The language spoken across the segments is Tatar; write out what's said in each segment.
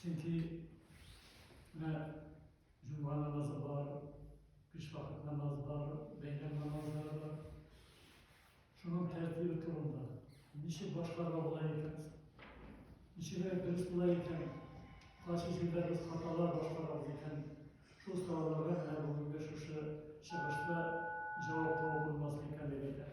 Чөнки менә җомга намазы бар, биш вакыт намазы бар, бәйрәм намазлары бар. Шуның тәртибе турында ничек башкарга була икән? Ничек дөрес була икән? Кайсы җирдә без хаталар башкарабыз икән? Шул сорауларга менә бүгенге шушы чыгышта җавап табып булмас микән дип әйтәм.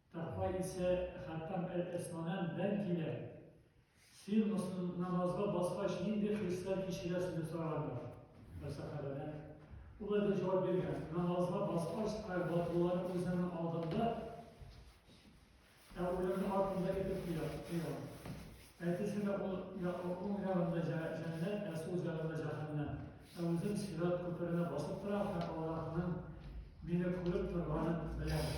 Тәкъва исә Хәттам әл-Әсманән, бәлки дә, Син мосл намазга баскач нинди хисләр кичерәсең? дип сорагандыр бер сәхабәдән. Ул әйтеп җавап биргән, Намазга баскач, страйбатлылар үземнең алдымда, ә үлемне артымда итеп куя, куям. Әтисенә ул уң ягында җәннәт, ә сул ягында җәһәннәм. Ә үзем сират күперенә басып торам һәм аларның мине күреп торганын беләм.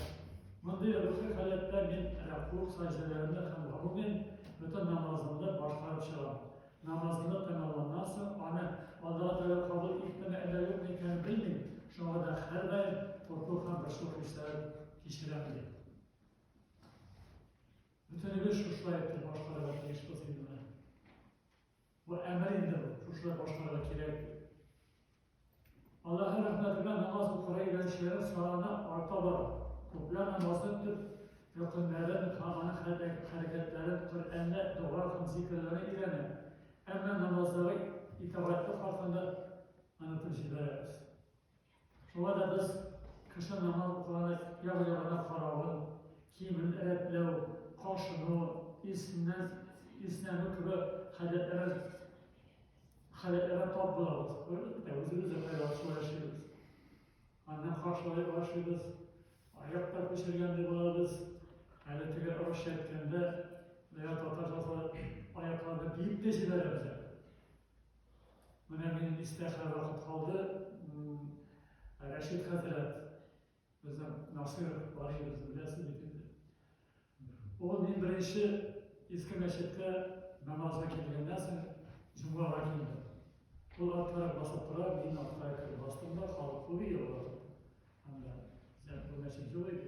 Мондый рухи халәттә мин рәкук сәҗдәләрне һәм гомумән бөтен намазымны башкарып чыгам. Намазны тәмамланнан соң аны Аллаһ Тәгалә кабул иттеме әллә юкмы икәнен белмим, шуңа да һәрдаим курку һәм борчылу хисләрен кичерәм, ди. Бөтенебез шушылай итеп башкарырга тиешбез инде менә. Бу әмер инде бу, шушылай башкарырга кирәк. Аллаһы рәхмәтенә намаз укырга өйрәнүчеләр саны арта бара. Күпләр намазны төп рөкеннәрен һәм аның хәрәкәтләрен Коръәндә дога һәм зикерләрне өйрәнә. Әмма намазлары итагатьлек хакында онытып җибәрәбез. Шуңа да без кеше намаз укыганда як-ягына каравын, киемен рәтләү, кашыну, иснән, иснәнү кебек гадәтләрен гадәтләрен тап булабыз. Әлбәттә, үзебез дә кайда шулай эшлибез. Аннан каршылай башлыйбыз, аяктан күчергәндәй булабыз. Әле теге русча әйткәндә, бәя татарча салып, аякларны биеп тә җибәрәбез. Менә минем истә хәзер вакыт калды. Рәшид хәзрәт, безнең Насир Валиевич беләсез бит инде. Ул мин беренче Иске мәчеткә намазга килгәннән соң җомгага килдем. Ул артларак басып тора, мин артларак кереп бастым да, халык күп иде ул вакыт. Анда, сән күрмәчек юк иде.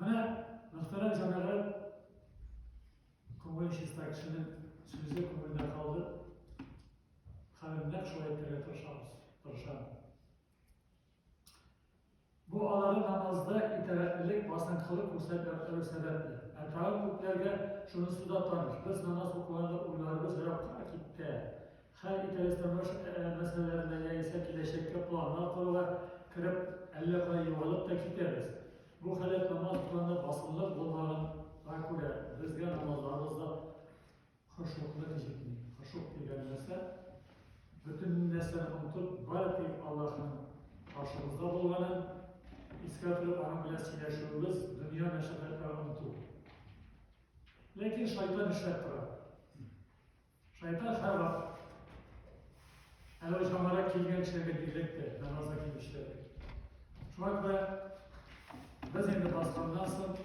Менә мөхтәрәм җәмәгать, күңел чиста кешенең сүзе күңелдә калды. Хәзер нәкъ шулай итәргә тырышабыз, тырышам. Бу алары намазда итәгатьлелек, басынкылык күрсәтә торган сәбәпле. Ә тагын күпләргә шунысы да таныш. Без намаз укыганда уйларыбыз еракка китә. Хәл итәбездән башка мәсьәләләрне яисә киләчәккә планнар коруга кереп, әллә кая югалып та китәбез. Бу халәт намаз укуында басымлык булмаганга күрә, безгә намазларыбыз да хошуклык җитми. Хошук дигән нәрсә, бөтен нәрсәне онытып, бары тик Аллаһның каршыбызда булганын искә төшереп, аның белән сөйләшүебез, дөнья мәшәкатьләрен оныту. Ләкин шайтан эшләп тора. Шайтан Хава әле ошамара килгән кешеләргә бирелеп тә намазга килүчеләргә. Шуңа күрә без инде басканнан соң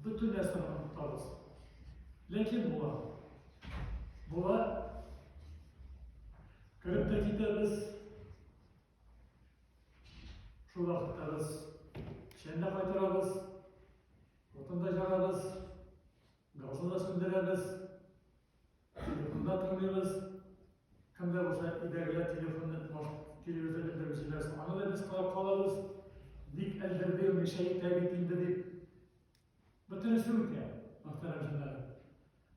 бөтен нәрсәне онытабыз. Ләкин була. Була. Кереп тә китәбез. Шул вакытта без шәндә кайтарабыз. Утында җагабыз. Газны да сүндерәбез, телефонда тыңлыйбыз. Кемдә булса өйдәгеләр телефонны тумаш телевизор белдерүчеләр, аны да без карап калабыз. Бик әлдерде, мишә итә бит инде дип. Бөтенесе үтә, мөхтәрәм җәннәр.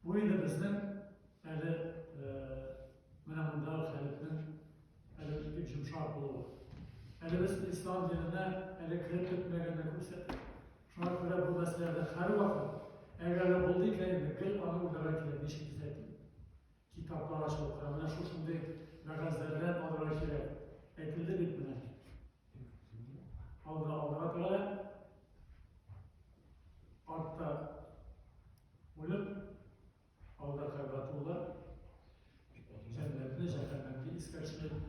Бу инде безнең әле менә монда хәлетнең әле бик йомшак булуы. Әле без ислам диненә әле кереп бетмәгәнне күрсәтә. Шуңа күрә бу мәсьәләдә һәрвакыт, әгәр дә булды икән инде, гел аны уйларга кирәк, ничек төзәтим. Китаплар ачылып тора, менә шушындый вәгазьләрдән алырга кирәк. Әйтелде бит менә. Алда алырга тора, артта үлеп Алда Кәгъбәтулла, җәннәтне, җәһәннәмне искә төшереп,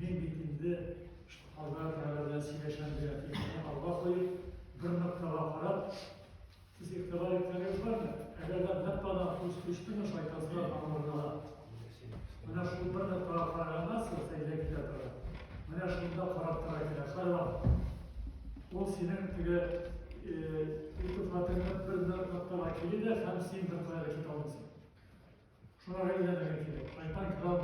мин бит инде Алла Тәгалә белән сөйләшәм дигән фикерне алга куеп, бер ноктага карап, сез игътибар иткәнегез бармы? Әгәр дә бер тана күз төштеме шайтансыз аңларына, Менә шул бер дә карап караганда сылса илә китә тора. Менә шунда карап тора кирәк. Хайван. Ул синең теге итифатыңны бер бер ноктага килә дә һәм син бер кая китә алмыйсың. Шуңа әйләнергә кирәк. Шайтан кирәк.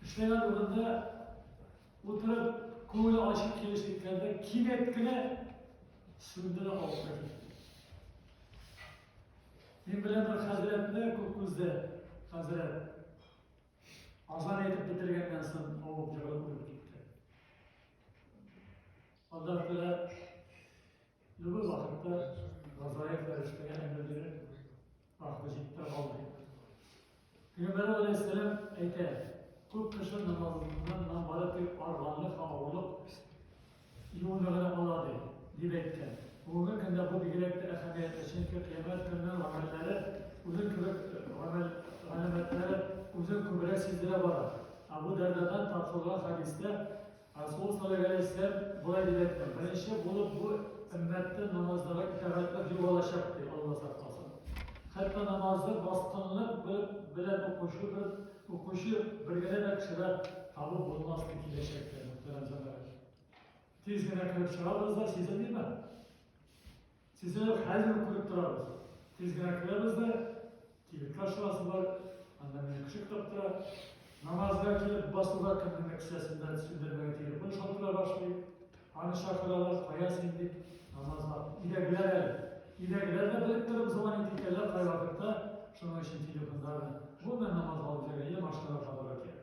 Кешеләр урында утырып, күңеле ачып килешлекләрдә кинәт кенә сүндерә алса Мин белән бер хәзрәтне күк күздә хәзрәт азан әйтеп бетергәннән соң авып җылы күреп китте. Аллаһ Тәгалә любой вакытта Газраил фәрештәгә әмер бирә. Ах, без итә алмыйк. Пәйгамбәр алейһиссәлам әйтә, күп кеше намазыннан нам бары тик арганлык һәм авырлык юлны гына ала ди, дип әйткән. Бүгенге көндә бу бигрәк тә әһәмиятле, чөнки кыямәт көненең гамәлләре үзен кебек гамәл галәмәтләре үзен күбрәк сиздерә бара. Абу Дәрдадан таркалган хәдистә Расул саллаллаһу алейһи вә сәлләм болай дип әйткән, беренче булып бу өммәттә намазларга итагатьлек югалачак, ди Алла сакласын. Хәтта намазны баскынлык белән укучы бер укучы бер генә дә кеше дә табып булмас дип киләчәктә, мөхтәрәм җәмәгать. Тиз генә кереп чыгабыз да сизелмиме? Сезне хәзер үк күреп торабыз. Тиз генә керәбез дә, кибеткә чыгасызлар, анда мине кеше көтеп тора. Намазга килеп басуга кемнеңдер кесәсендә сүндермәгән телефон шалтыра башлый. Аны чакыралар, кая син дип, намазга өйдәгеләр әле. Өйдәгеләр дә белеп торып звонит итәләр кайвакытта, шуның өчен телефондагы. Бу мен намазга алып җөргән, я машинага кабарга кирәк.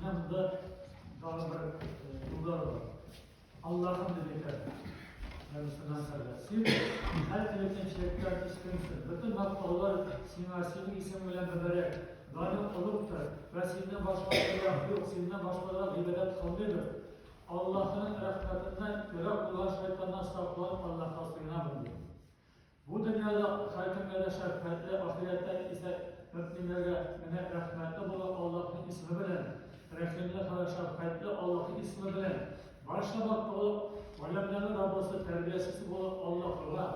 Менә монда тагы бер юллар бар. Аллаһым дип әйтәләр. Янысына сәләм. Син һәр көнчелектә үскәнсең. Бөтен мактаулар сиңа, синең исем белән мөбарәк. Даның олугтыр. Вә синнән башка Аллаһ юк. Синнән башкага гыйбадәт кылмыйбыз. Аллаһның рәхмәтеннән ерак булган шайтаннан сакланып Аллаһка сыенабыз. Бу дөньяда ашар кемгә дә шәфкатьле, ахирәттә исә мөминнәргә менә рәхмәтле булган Аллаһның исеме белән, рәхимле һәм шәфкатьле Аллаһның исеме белән, барча бар тулы галәмнәрнең Раббысы, тәрбиячесе булган Аллаһыга,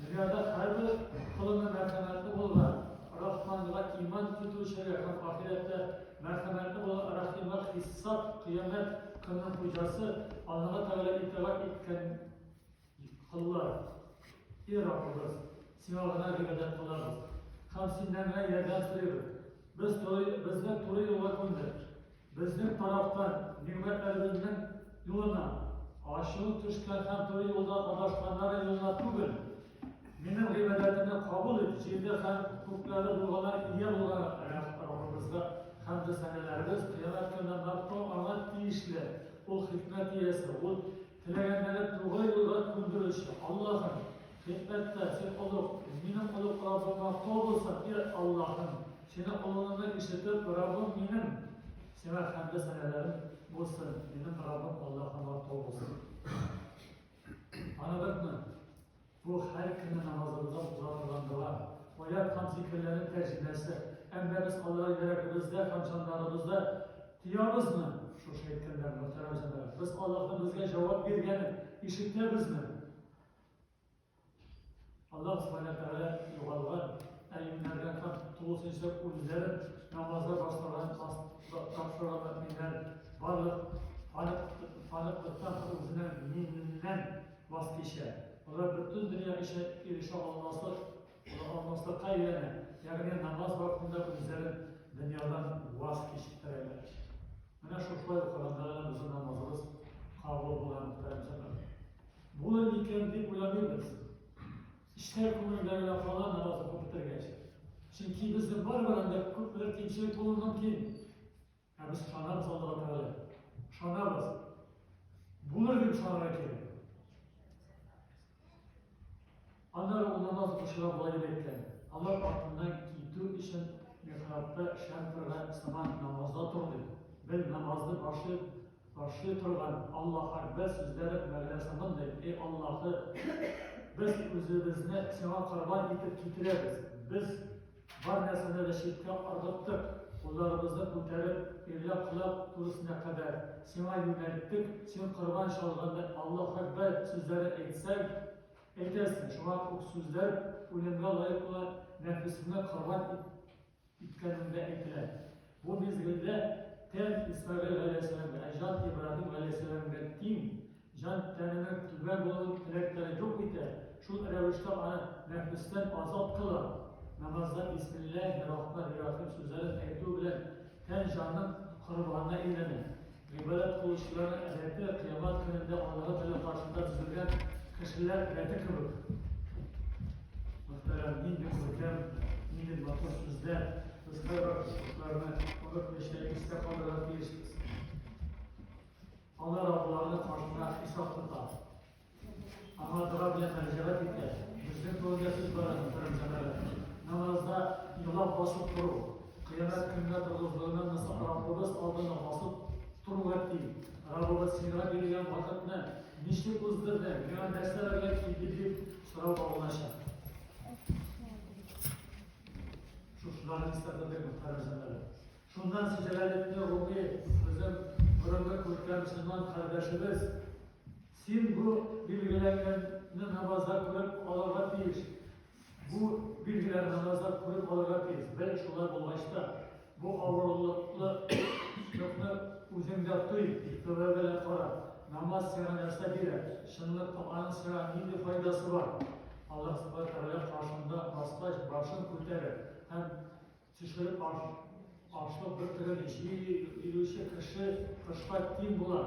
дөньяда һәрбер колына мәрхәмәтле булган Рахманга иман китерүчегә һәм ахирәттә мәрхәмәтле булган Рахимга хисап, кыямәт көненең хуҗасы Аллаһы Тәгалә итагать иткән Аллаһ, и Раббыбыз, Сиңа гына гыйбадәт кылабыз һәм Синнән генә ярдәм сорыйбыз. Без туры, безне туры юлга күндер. Безнең тарафтан нигъмәтләребезнең юлына, ачуы төшкән һәм туры юлда адашканнар юлына түгел. Минем гыйбадәтемне кабул ит, җирдә һәм күкләрдә булганнар ия булган Раббыбызга һәм дә сәнәләребез кыямәт көнендә Аңа тиешле. Ул хикмәт иясе, ул Теләгәннәрен тугры юлга күндерүче Аллаһым, хикмәттә Син олуг, минем олуг Раббым мактау булсын, и Аллаһым, Синең олугыңны ишетеп, Раббым минем, Сиңа хәмде сәнәләрем булсын, минем Раббым Аллаһым мактау булсын. Аны бетме? Бу һәр көнне намазыбызда укыла торган дога, аят һәм зикерләрнең тәрҗемәсе. Әмма без аларга йөрәгебездә һәм җаннарыбызда тоябызмы? Шушы әйткәннәрне, мөхтәрәм җәмәгать, без Аллаһның безгә җавап биргәнен ишетәбезме? Аллаһ Субхана ва Тәгалә югалган, әймнәргән һәм тулысынча үлеләрен намазга башлардан тапшырган мөэминнәр барлык паныклыктан һәм үзенең миннән Вакыт кичә. Алар бөтен дөнья эченә ирешә алмаслык, ала алмаслыкка өйрәнә, ягъни намаз вакытында үзләрен дөньядан ваз кичтерәләр. Менә шушылай укыганда гына безнең намазыбыз кабул була, мөхтәрәм җәмәгать. Булыр микән дип уйланыйбыз. Эчтә күңелдә генә кала намаз укып бетергәч. Чөнки безнең бар белән дә күпмедер кимчелек булуы мөмкин. Ә без канат салдык әле. Ышанабыз. Булыр дип ышанырга кирәк. Аннары ул намаз укучыга болай дип әйткән. Алар артыннан китү өчен михрабта шәм торган сыман намазда тор дип. Без намазны башлый, башлый торган Аллаһ Акбар сүзләре мәгънә сымандай, эй Аллаһы, без үзебезне сиңа корбан итеп китерәбез. Без Бар нәрсәне дә читкә ыргыттык, кулларыбызны күтәреп, ирләр колак түресенә кадәр Сиңа юнәлттек, Син корбан чалганда Аллаһ Әкбәр сүзләре әйтсәң, әйтәсең, шуңа ук сүзләр үлемгә лаек була, нәфесеңне корбан иткәнеңдә әйтелә. Бу мизгелдә тән Исмәгыйль галәйһиссәламгә, ә җан Ибраһим галәйһиссәламгә тиң, Җан тәненең төгәл булырлык теләкләрен юк итә, шул рәвештә аны нәфестән азат кыла. Намазда бисмилләһи рахмани рахим сүзләрен әйтү белән тән-җанның корбанына әйләнә. Гыйбадәт кылучыларның әдәте кыямәт көнендә Аллаһы Тәгалә каршында бизәлгән кешеләр рәте кебек. Мөхтәрәм, нинди күркәм, нинди матур сүзләр, без кайбер кышлыкларны онытмыйча истә калдырырга тиешбез. Алар абуларны каршында хисап тота. Аңа дога белән мәрҗәгать итә. Безнең күңелгә сүз барады, мөхтәрәм җәмәгать. Намазда елап басып тору, кыямәт көнгә торгызлыгына насап Раббыбыз алдына басып торуга ки, Раббыбыз сиңа биргән вакытны ничек уздырдың, миңа нәрсәләргә килде дип сорау багылачак. Шушыларны истәтәдек, мөхтәрәм җәмәгать. Шуннан сизеләлекне укый безнең борынгы күркә мөселман кардәшебез. Син бу билгеләнгәнне намазда күреп алырга тиеш. Бу билгеләр намазда күреп алырга тиеш. Бәлки шулай булгач та, бу авырлыклы шөкне үзеңдә туй, тәүбә белән кара. Намаз сиңа нәрсә бирә? Чынлык табаның сиңа нинди файдасы бар? Аллаһ Субхаһу ва Тәгалә каршында баскач, башын күтәреп һәм Чишелеп баш, ашлык бөртеген җи, илүче кеше кышка тиң була.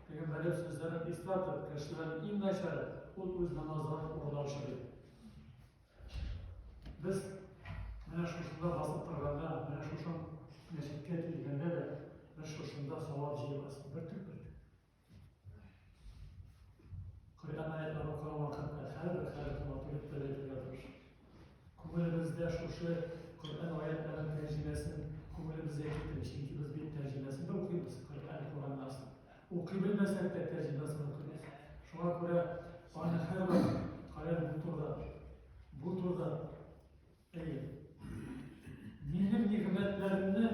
Пәйгамбәрем сүзләрен искәртеп, кешеләрнең иң начары ул үз намазларын урлаучы ди. Без менә шушында басып торганда, менә шушын мәчеткә килгәндә дә без шушында савап җыябыз. Бөртек бөртек. Кайдан аятны укыган вакытта һәрбер хәрефен атып тәләтергә тырыш. Күңелебездә шушы Коръән аятларын тәрҗемәсен күңелебезгә китерик, чөнки без бит тәрҗемәсен дә укыйбыз, Коръән Коръәннан. Укый белмәсәк тә тәрҗемәсен укыйбыз. Шуңа күрә аны һәрвакыт каян бу турыда, бу турыда Минем нигъмәтләремне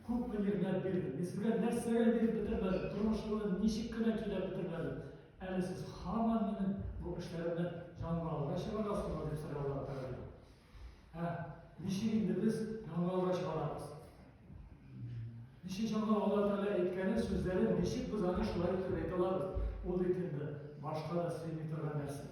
күпме нигъмәт бирде. Мин сезгә нәрсәгә биреп бетермәдем, тормышымны ничек кенә көйләп бетермәдем. Әле сез һаман минем бу эшләремне яңалга чыгарасызмы дип сораулар бирде. Ә ничек инде без яңалга чыгарабыз? Ничек яңа Алла Тәгалә әйткәне сүзләрен ничек без аны шулай итеп әйтә алабыз? Ул бит инде башка да сөйми торган нәрсә.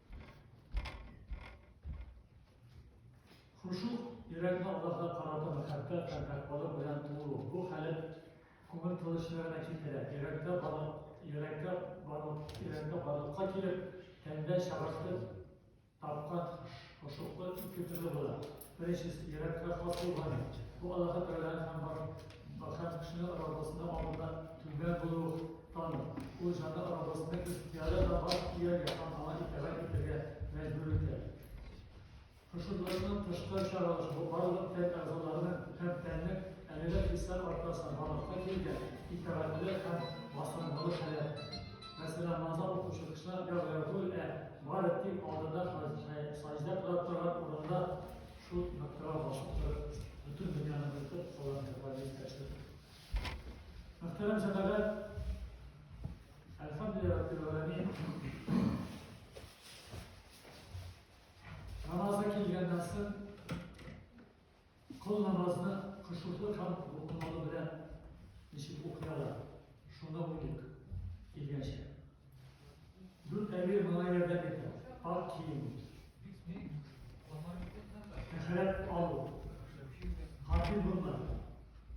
Хушу йөрәкне Аллаһка карата мәхәббәт һәм тәкъвалык белән тулу. Бу халәт күңел тынычлыгына китерә. Йөрәктә барлык, йөрәктә барлык, йөрәктә барлыкка килеп, тәндә чагыртып тапкан хошуклык ике төрле була. Беренче еракка хас булган бу аллаһы тәгаләнең һәм бар бакчан кешенең арабасында алдында түбә булу тану. Ул җанда арабасында ихтияры да бар ияргә һәм аңа итәгать итәргә мәҗбүр итә. Хушурлыкның тышкы чаралышы бу барлык тән әгъзаларының һәм тәннең әлеге хисләр аркасында барлыкка килгән итәгатле һәм басымлы хәле. Мәсәлән, намазда укучы кешеләр я гәфүл ә барып дип алдында саҗда кылып торган урында шул ноктага басып торып, бөтен дөньяны онытып, Аллаһны гыйбадәт итәчәк. Мөхтәрәм җәмәгать, әлхәмдүлилләһ раббил аламин. Намазга килгәннән соң Кол намазны кошуклы һәм рухлылыгы белән ничек укыялар, шуны уйлыйк, килгәнчә. Дүрт әйе моңа ярдәм итә, ак кием, әхирәт алу, хатин булма,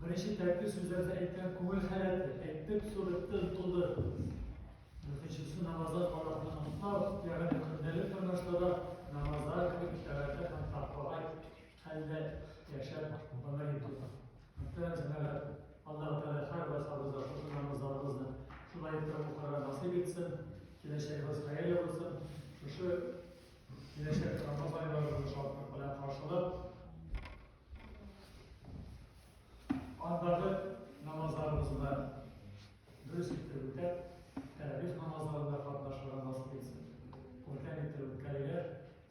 беренче тәпки сүзләрдә әйткән күңел хәләте, әйтеп, суреттен туды. Дүртенчесе намазлар каласына ымтау, ягъни көндәлек тормышта да намазлар кебек итәгатьле һәм тапкага Хәлдә яшәп, бала итү. Мөхтәрәм җәмәгать, Аллаһу Тәгалә һәр барсабызга шушы намазларыбызны шулай итеп укырга насыйп итсен, киләчәгебез хәерле булсын. Шушы киләчәк Рамазан айларыбызны шатлык белән каршылап, андагы намазларыбызны да дөрес итеп үтәп, тәравих намазларында катнашырга насыйп итсен. Күркәм итеп үткәрергә,